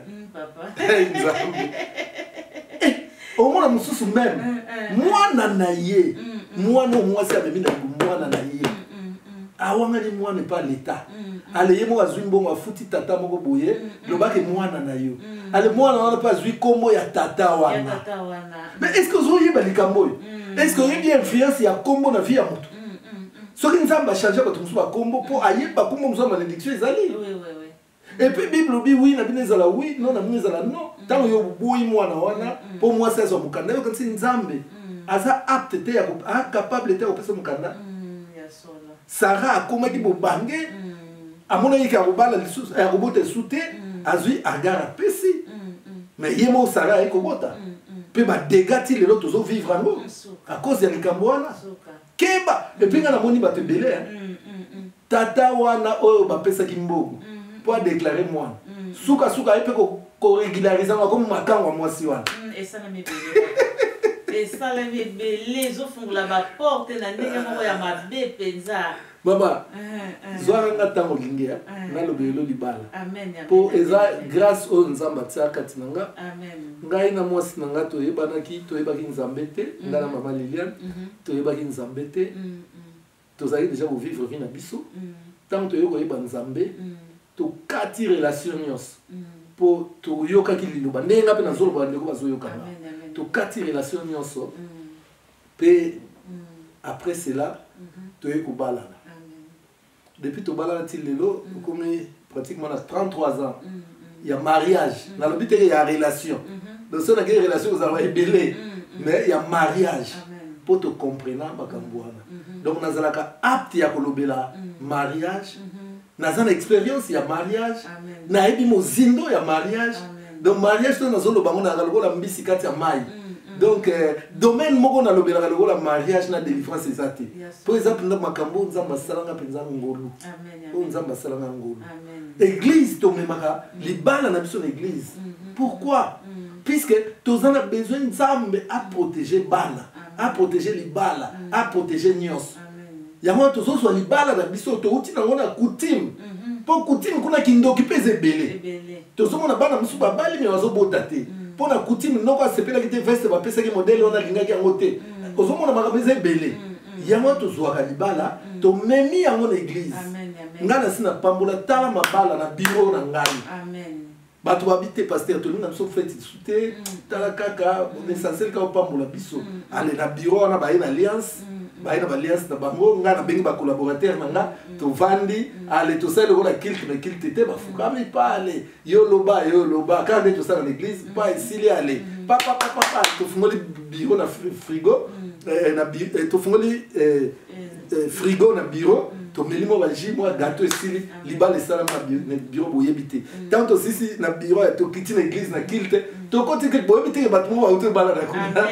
Nzambe eh, omona mosusu meme mwana na ye mwana oyo mwasi amemi na mwana na ye awangani mwana epa leta ale ye moko azwi mbongo afuti tata moko boye lobake mwana na yo ale mwana wana mpe azwi nkombo ya tata wana mais est ce que ozoyeba likambo oyo est ce que oyebi influence ya nkombo na vie ya motu soki nzambe achange bato mosusu bakombo mpo ayeba nkombo mosusu ya malediction ezali Et puis Bible dit oui, na bino ezala oui, non na bino ezala non. Mm. Tango yo boyi mwana wana mm, mm. po mwasi azwa mukanda yo kasi Nzambe aza apte te ya a capable te ya kopesa mukanda. Sarah akomaki bobange amonaki ke akobala lisusu eh, akobota lisusu te azwi agar apesi me ye moko Sarah aye kobota mpe badega ti lelo tozovivre yango à cause ya likambo wana keba epuis nga namoni bato ebele mm, mm, mm. tata wana oyo bapesaki mbongo mm-hmm. mpo adeklare mwana mm-hmm. sukasuka ye mpe koregularize yango akomi makango ya mwasi wana esalami ebele ezofungola baporte na ndenge moko ya mabe mpenza baba zwaka nga ntango olingi ya naloba elo libala mpo eza grâce oyo nzambe atia kati na nga ngai na mwasi na nga toyebanaki toyebaki nzambe te ngai na mama liliane mhm. toyebaki nzambe te tozalaki deja kovivre vie na biso ntango toyei koyeba nzambe tokati relation nyonso mpo toyokaki liloba ndenge nga mpe nazoloba bandeko bazoyokana tokati relation nyonso mpe après cela toyei kobalana depuis tobalana ti lelo okomi mm. pratiquement na 33 ans mm, mm. ya mariage nalobi teke ya relation mm-hmm. donc so nakei relation kozalaka ebele mais ya mariage mpo tocomprena makambo wana mm-hmm. donc nazalaka apte ya kolobela mariage mm-hmm. naza na expérience ya mariage nayebi mozindo ya mariage Amen. donc mariage oyo nazoloba yango nalaka lokola mbisi kati ya mai mm, mm. donc eh, domaine moko nalobelaka lokola mariage na délivrance eza te mpo eza mpenza makambo oyo nzambe asalanga mpenza ngolu oyo nzambe asalanga ngolu église tomemaka mm. libala na biso na église mm-hmm. pourquoi mm. puisque toza na besoin nzambe aprotege bana aprotege libala aprotege nyonso yango wana tozozwa libala na biso touti nango na coutume mpo mhm. coutume kuna kindoki mpe eza ebele tozomona bana mosusu babali me bazobota te mm. mpo na coutume noko asepelaki te veste bapesaki modele wana alingaki yango te mm. ozomona makambo eza ebele mm, yango tozwaka libala tomemi yango na eglize ngai nasi napambola tala mabala na biro na ngai bato babi te paster tolingi na biso feti te tala kaka essentiel kaka opambola biso ale na bureau wana baye na alliance baye na baliance na bango ngai nabengi bacollaborateur na nga tovandi ale tosali lokola kilte na kilte te bafukami pa ale yo loba yo loba kaka nde tosala na église pa esili ale papapapapa tofungoli biro na frigo eh, eh, tofungoli eh, euh, frigo na bureau tomeli mwa baji mwa gato esili libala esalama na bureau boyebi te ntango tosisi na bureau tokiti na église na kilte tokoti kilte boyebi te bato moko bauti ebala na kuna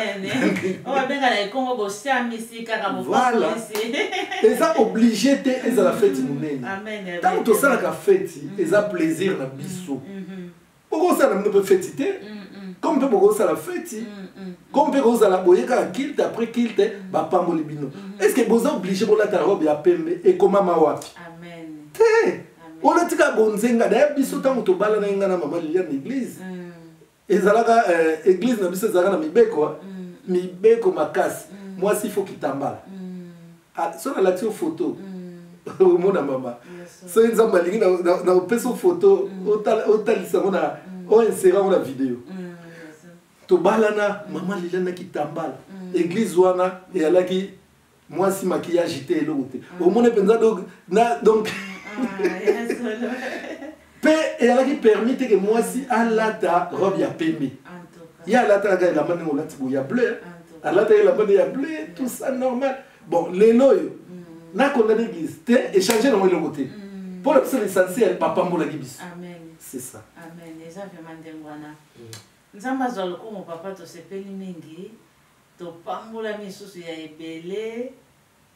eza oblige te ezala feti monene ntango tosalaka feti eza plaisir na biso bokosala mino mpe feti te comme mpe bokosala feti comme mpe kozala boye kaka kilte après kilte bapamboli bino est ce que boza oblige bolata robe ya pembe ekomama wapi te olati kaka bonzenga daya biso ntango tobalana ye ngai na mama lilia na église mm. ezalaka euh, église na biso ezalaka na mibeko mm. mibeko makasi mm. mwasi fo kitambala Ah, soki nalakisi yo foto mm. omona mama soki nzambe alingi napesi yo foto mm. otalisa yango na mm. oinsere yango na video tobalana mama lela na kitambala eglise wana eyalaki mwasi makiyage te eloko te omoni mpenza donc ah, Pe ezalaki permis te que mwasi alata robe ya pembe. Ye alatalaka elamba ndenge olati boye ya bleu. Alataka elamba nde ya bleu, tout ça normal. Bon, lelo oyo na condamne église te échanger nango eloko te. Mpo na biso l'essentiel bapambolaki biso. Amen. C'est ça. Amen. Eza vraiment ndenge wana. Nzambe azwa lokumu papa tosepeli mingi. topambolami lisusu ya ebele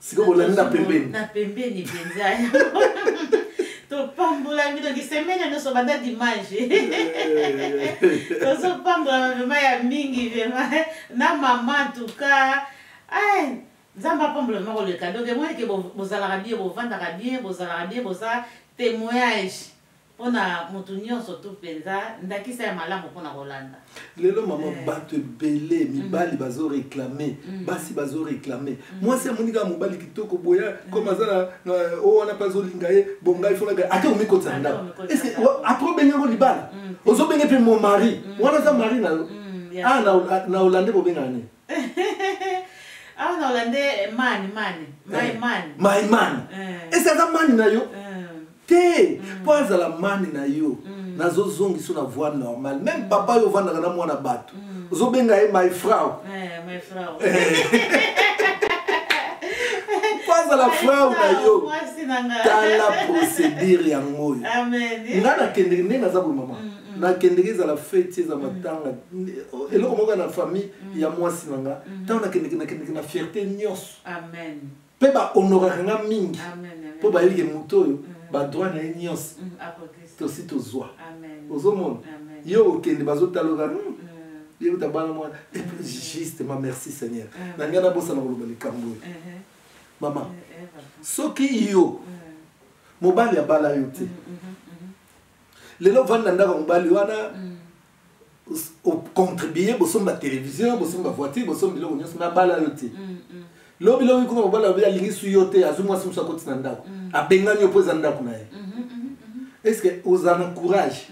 sikoyo bolandi na pembeni na pembeni mpenza topambolami donc semene nyonso banda dimanche tozopambolama vrema ya mingi vrema na mama tuka nzambe apambola vrema koleka donc emonike bozalaka bie bovandaka bie bozalaka bie boza témoignage mpo na moto nyonso tu mpenza ndakisa ya malamu mpo na kolanda lelo mama eh. bato ebele mm. mibali bazoreklame mm. basi bazoreklame mm. mwasi amoni kaka mobali kitoko boya koma aza na o wana mpe azolinga ye bongai fonaka ata omikotisa ndako apres obenge yango libala ozobenge mpe mo mari wana aza mari na yo ah, na olande bobengaka nini awa na olande mani mani my man my man esi aza mani na yo te mpo azala mani na yo nazozongisa yo na voie normale meme papa yo ovandaka na mwana bato ozobenga ye my frau mpo azala frau na yo tala procédure yango oyo ngai nakendeke ndenge naza boye mama mm. nakendeki ezala feti eza mm. matanga mm. eloko moko na famille mm. ya mwasi na nga mm. ntango nakendeki nakendeki na fierté nyonso mpe bahonoraka nga mingi mpo bayebike moto oyo mm. badroit na ye nyonso mm, tosi tozwa ozomona ye okende bazotaloka hmm, mm. yeuta bana mwana mm. justement merci seigneur na ngai nabosana koloba likambo oyo uh-huh. mama uh-huh. soki yo mobali abala yo te mm-hmm, mm-hmm, mm-hmm. lelo vandi na ndako mobali wana ocontribue bosomba télévision bosomba voiture bosomba biloko nyonso me abala yo te lobi lobi kuna mobali alobi alingisi yo te azwi mwasi mosu akoti na ndako abengani yo mpo eza ndako na ye est ce que ozala na courage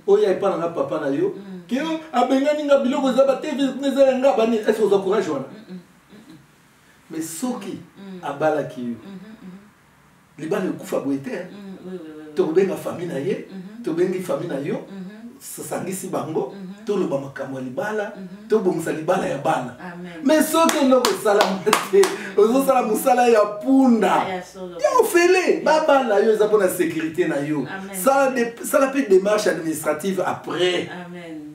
oya epa na nga papa na yo ke abengani nga biloko eza bateve eza ya nga bani est ce que oza courage wana mais soki abalaki yo libala ekufa boye te mm, tokobenga fami na ye mhm. tobengi fami na yo mhm. sosangisi bango mhm. toloba makambo ya libala tobongisa libala ya bana me soki eloko esalama te ozosala mosala ya punda ah, ya ofele babala yo eza mpona sécurité na yo sala mpe démarche administrative après Amen.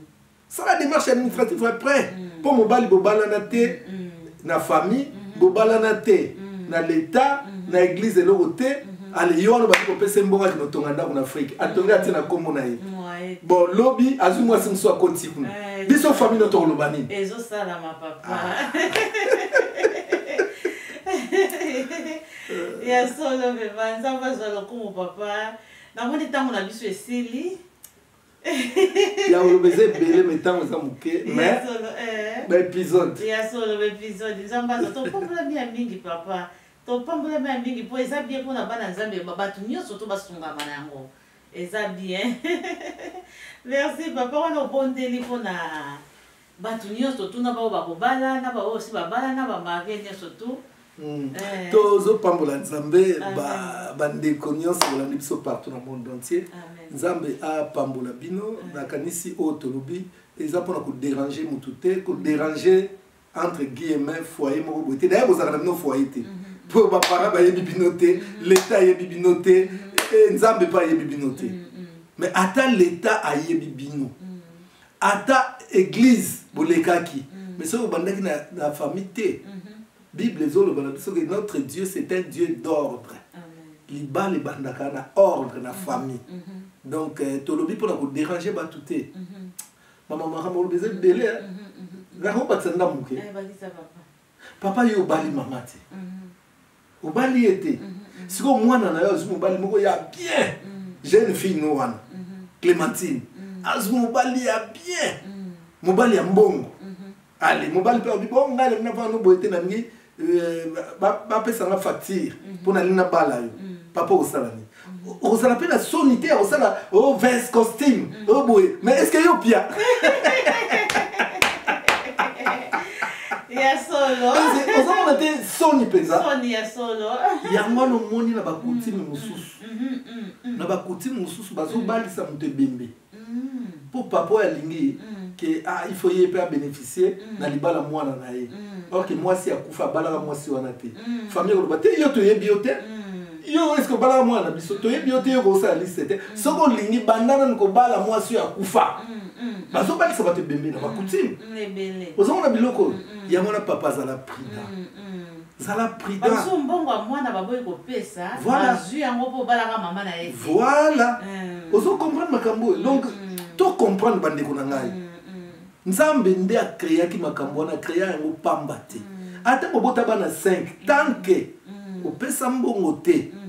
sala démarche administrative après mpo mobali bobalana te na famille bobalana te na leta na église eloko te ale yo wana obandi kopesa mbongo kino tonga ndako na afrike atongi atie na nkombo na ye bon lobi azwi mwasi mosusu akoti kuna eh, biso famille no tokoloba nini ezosalama papa ah. ya solo mema nzambe azwa lokumu papa namoni ntango na biso esili ya koloba eza ebele me ntango eza moke baepisode ya solo baepisode eh. nzambe aza topambolami ya mingi papa topambolami ya mingi mpo eza bien mpona bana nzambe bato nyonso to basungama na yango eza bien merci papa wana obondeli mpona Batu nioso tu na baoyo bakobala na baoyo si babala na bamarie nioso tu hmm. eh. tozopambola nzambe bandeko nyonso balandi biso partout na monde entier nzambe apambola bino eh. nakanisi oyo tolobi eza mpona koderange motu te koderange hmm. entre guillemin foyer moko boye te daya kozala na bino foyer te mpo hmm. baparent bayebi bino te leta ayebi bino te eh, nzambe mpe ayebi bino te mais ata leta ayebi bino ata eglise bolekaki mm. mais soki obandaki na, na famille te mm -hmm. bible ezoloba na biso ke notre dieu c'est un dieu d'ordre libala ebandaka na ordre na mhm. famille mm -hmm. donc euh, tolobi mpona koderange bato te mm -hmm. mama makambo olobi eza ebele nakobakisa nda moke papa yo obali mama te obali ye te sikoyo mwana na yo azwi mobali moko ya bien jeune fille no wana clémentine azwi mobali ya bien mobali ya mbongo ale mobali mpe alobi bo ngai alemina mpona no boye te nalingi euh, bapesa nga facture mpo nalingi nabala yo papa osala nini ozala mpe na soni te ya kosala o oh, vins costume mm. o oh, boye mais est ce que yo pia ya solo ozomona te soni mpenza soni ya solo yango wana omoni na bakutime mm, mm, mosusu mm, na bakutime mosusu bazobalisa moto ebembe mpo papa oyo alingi ke ah, il faut ye mpe abeneficie na libala mwana na ye or ke mwasi akufa abalaka mwasi wana te famille koloba te yo toyebi yo te yo eske obalaka mwana na biso toyebi yo te yo kosala liste te soki olingi banda nanu kobala mwasi oyo akufa bazobalisa bato ebembe na bacoutime ozomona biloko oyo yango wana papa azala prida zala prudent bazo mbongo ya mwana baboyi kopesa voilà. bazwi yango mpo obalaka mama na ye voilà mm. ozo comprendre makambo oyo donc mm. to comprendre bandeko na ngai mm. nzambe nde akreaki makambo wana akrea yango pamba te mm. ata bobota bana 5 tanke mm. opesa mbongo te mm.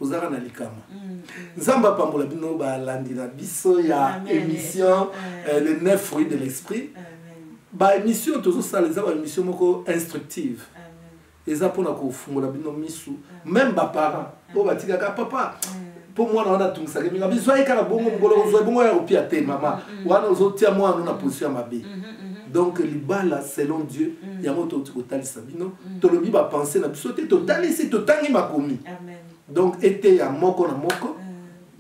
ozalaka na likama mm, nzambe apambola bino balandi na biso ya émission euh, le neuf fruit de l'esprit baémission tozosala eza baémission moko instructive eza mpona kofungola bino misu meme baparent oyo batikaka papa mpo mwana wana atungisaka mingi bizwaki kaka bongo mokolo ozwa bongo ya kopia te mama wana ozotia mwana no na position ya mabe Mhm. donc libala selon dieu mhm. yango touti kotalisa bino mhm. tolobi bapense na biso te totalisi totangi makomi donc eteya moko na moko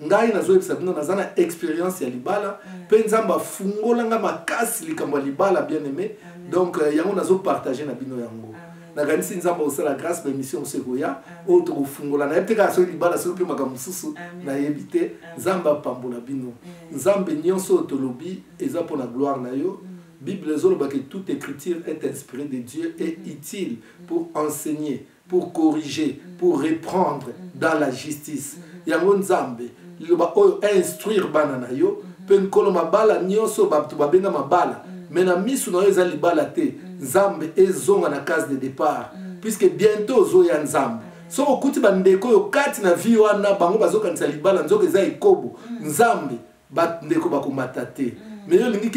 ngai nazoyebisa bino naza na expérience ya libala mpe nzambe afungola ngai makasi likambo ya libala bien aimé donc euh, yango nazopartage na bino yango nakanisi nzambe akosala grâce baémission mosusu ekoya oyo tokofungola nayebi te kaka soki libala soki mpe makambo mosusu nayebi te nzambe apambola bino nzambe nyonso oyo tolobi eza mpo na gloire na yo bible ezoloba ke toute écriture est inspirée de dieu et mm-hmm. utile pour enseigner pour corriger mm-hmm. pour reprendre mm-hmm. dans la justice yango nzambe liloba oyo instruire bana na yo mpe nkolo mabala nyonso bato babenga mabala me na miso na yo eza libala te nzambe ezonga na case de départ puisque bientôt ozoya nzambe soki okuti bandeko oyo kati na vie wana bango bazokanisa libala nzoka eza ekobo nzambe mm. bandeko bakomata te mm. me yo olingi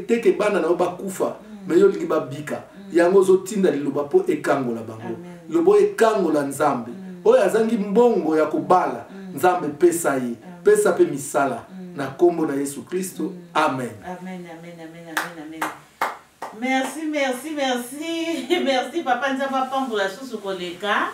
te ke bana na yo bakufa mm. me yo olingi babika mm. yango ozotinda liloba mpo ekangola bango liloba oyo ekangola nzambe oyo azangi mbongo ya kobala nzambe pesa ye pesa mpe misala na nkombo na yesu kristo amen, amen, amen, amen, amen, amen. merci merci merci merci papa nzambe apambola susu koleka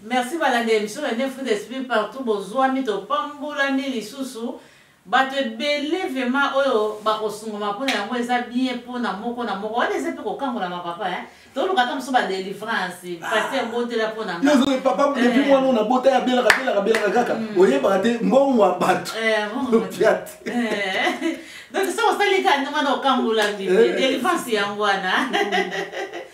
Merci balandeli biso na ne fruit d'esprit partout bozuami topambolami lisusu bato ebele vrema oyo bakosungama mpo na yango eza bien mpo na moko na moko wana eza mpe kokangolama papa eh? toluka ata mosusu badelivrance ah. paster botela mpo nayozoe papa eh. depuis mwana ona bota ya belaka belaka belaka kaka hmm. oyebaka te mbongo ya bato eh, opiate donc soki osali kani wana okangolami delivrance yango wana hmm.